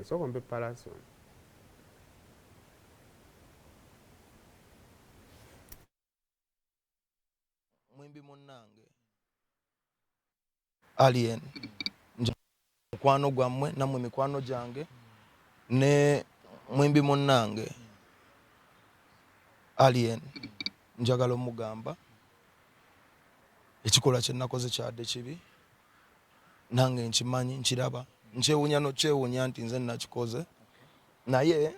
esooka ompe palason mwimbi munnange alien mukwano gwammwe nammwe mikwano gyange ne mwimbi munnange alien njagala omugamba ekikolwa kyenakoze kyade kibi nange nkimanyi nkiraba nkyewunya nokyewunya nti nze nakikoze naye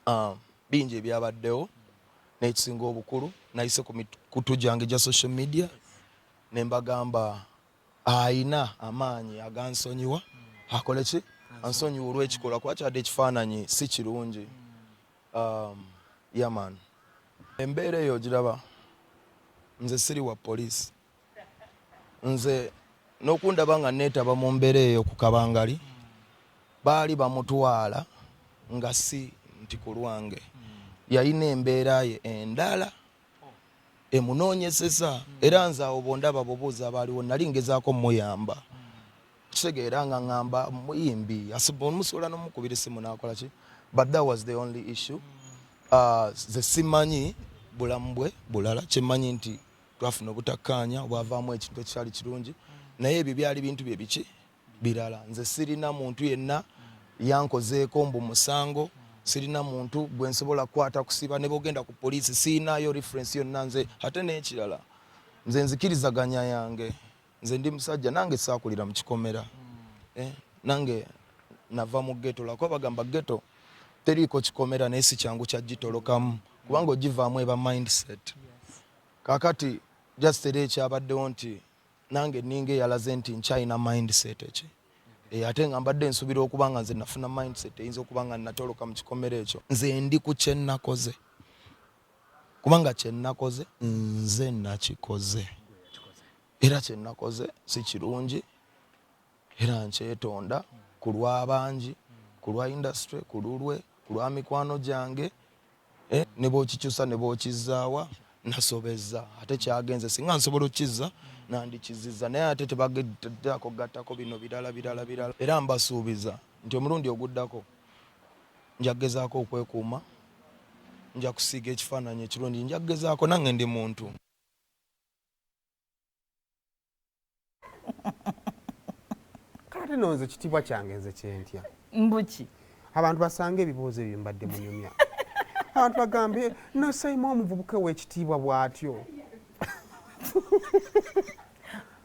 ah, bingi ebyabaddewo nekisinga obukulu nayise ku mikutu gyange gya social media nembagamba ayina amaanyi agansonyiwa akole ki ansonyiwa olwekikola kuba kyadde ekifaananyi si kirungi um, yaman embeera eyo ogiraba nze siri wa poliisi nze nokundaba nga netaba mu mbeera eyo ku kabangali baali bamutwala nga si nti ku lwange yalina embeera ye endala emunoonyeseza era nze awo bondaba bubuuza abaaliwo nali ngezaako muyamba kitegeera nga ngamba muyimbi omusuula nomukubira esimu nakola ki but that was the only issue uh, ze simanyi bulamu bwe bulala kyemanyi nti twafuna obutakkaanya obwavaamu ekintu ekikyali kirungi naye ebyo byali bintu bye biki birala nze sirina muntu yenna yankozeeko mbu musango sirina muntu gwe nsobola kukwata kusiba ne bogenda ku poliisi sirinaayo referensi yonna nze ate n'ekirala nze nzikirizaganya yange nze ndi musajja nange saakulira mu kikomera eh, nange nava mu geto lwakuba bagamba geto teriiko kikomera naye si kyangu kyagitolokamu kubanga ogivaamu eba mindset Kakati just era ekyabaddewo nti nange ninga eyalaze nti nkyalina mindset eki e, ate nga mbadde nsubira okuba nga nze nafuna mindset eyinza okuba nga natoloka mu kikomero ekyo nze ndi ku kyenakoze kubanga kyenakoze nze nakikoze era kyenakoze si kirungi era nkyetonda ku lw'abangi ku lwa industry ku lulwe ku lwa mikwano gyange Eh, ne bwokikyusa ne bwokizzaawa nasobezza ate kyagenze singa nsobola okukizza nandikizizza naye ate tebageddaako gattako bino birala birala birala era mbasuubiza nti omulundi oguddako nja kugezaako okwekuuma nja kusiiga ekifaananyi ekirungi nja kugezaako nange ndi muntu kati no nze kitibwa kyange nze kyentya mbuki abantu basanga ebibuuzo ebyo mbadde munyumya abantu bagambye nosayima omuvubuka owekitiibwa bwatyo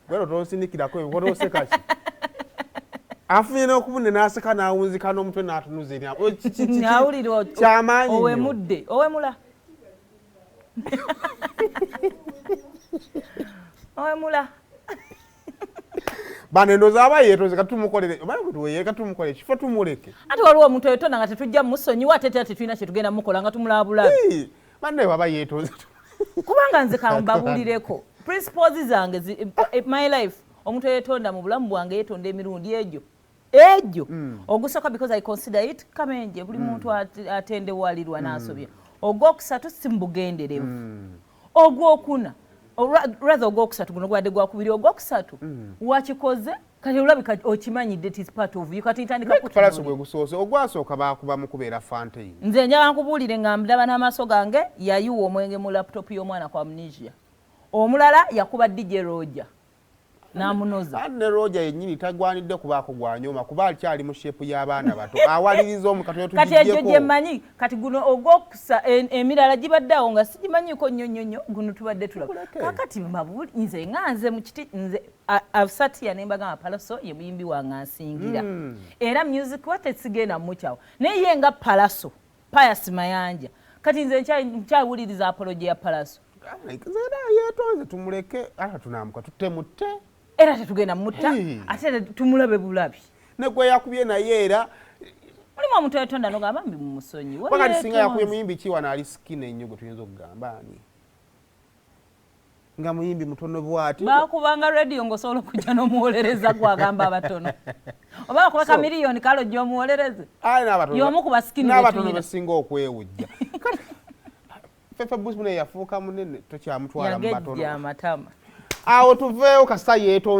gwero tonsindikirako ebikola osekaki afunye nokubune naseka nawunzika nomutwe natunuza eryawulira kyamaanyi owemudde owemula owemula bano endowooza aba yeetonze katumukolere obala kutuweye katumukolere kifo tumuleke ate waliwo omuntu eyetonda nga tetujja musonyiwa ate tera tetulina kyetugenda mukola nga tumulabulabi banne waba yeetonze kubanga nze kambabulireko principles zange eh, my life omuntu eyetonda mu bulamu bwange yetonda emirundi egyo ejo mm. ogusoka because i consider it kamenje buli mm. muntu atendewalirwa mm. nasobya ogwokusatu simubugenderevu mm. ogwokuna rather ogwokusatu guno gwade gwakubiri ogwokusatu mm. wakikoze kati olabika okimanyidde tis part of you kati ntandikapalaso gwe gusoose ogwasooka baakuba mu kubeera fantein nze njaba nkubuulire nga ndaba n'amaaso gange yayiwa omwenge mu laptop y'omwana kwa amnesia omulala yakuba dj roja namunoza ne roja yenyini tagwanidde kubaako gwanyoma kuba akyali mu shepu y'abaana bato awaliriza omukatokati egyo gyemanyi kati guno ogwokusa emirala gibadde awo nga sigimanyiiko nnyo nnyo nnyo guno tubadde tulaba kakati mabuli nze nga nze mu kiti nze absatiya ne mbagamba palaso ye muyimbi wange ansingira hmm. era music wa tesigenda mumukyawo naye ye nga palaso Pius Mayanja kati nze nkyawuliriza apolo gye ya palaso yetonze tumuleke ata tunamuka tutemutte era tetugenda mutta ate tumulabe bulabi negwe yakubye naye era mulimu omuntu etonda nogamba mbi mumusonyiwakati singa yakubye muyimbi kiwa naali sikina ennyo gwe tuyinza okugamba ani nga muyimbi mutono bwati bakubanga radio ngosobola okujja nomuwolereza gwagamba abatono oba bakuba ka miliyoni kale ojja omuwolereze yomu ku basikinabatono besinga okwewujja fefe busmune yafuuka munene tokyamutwala mumatono awo tuveewo kasita yeto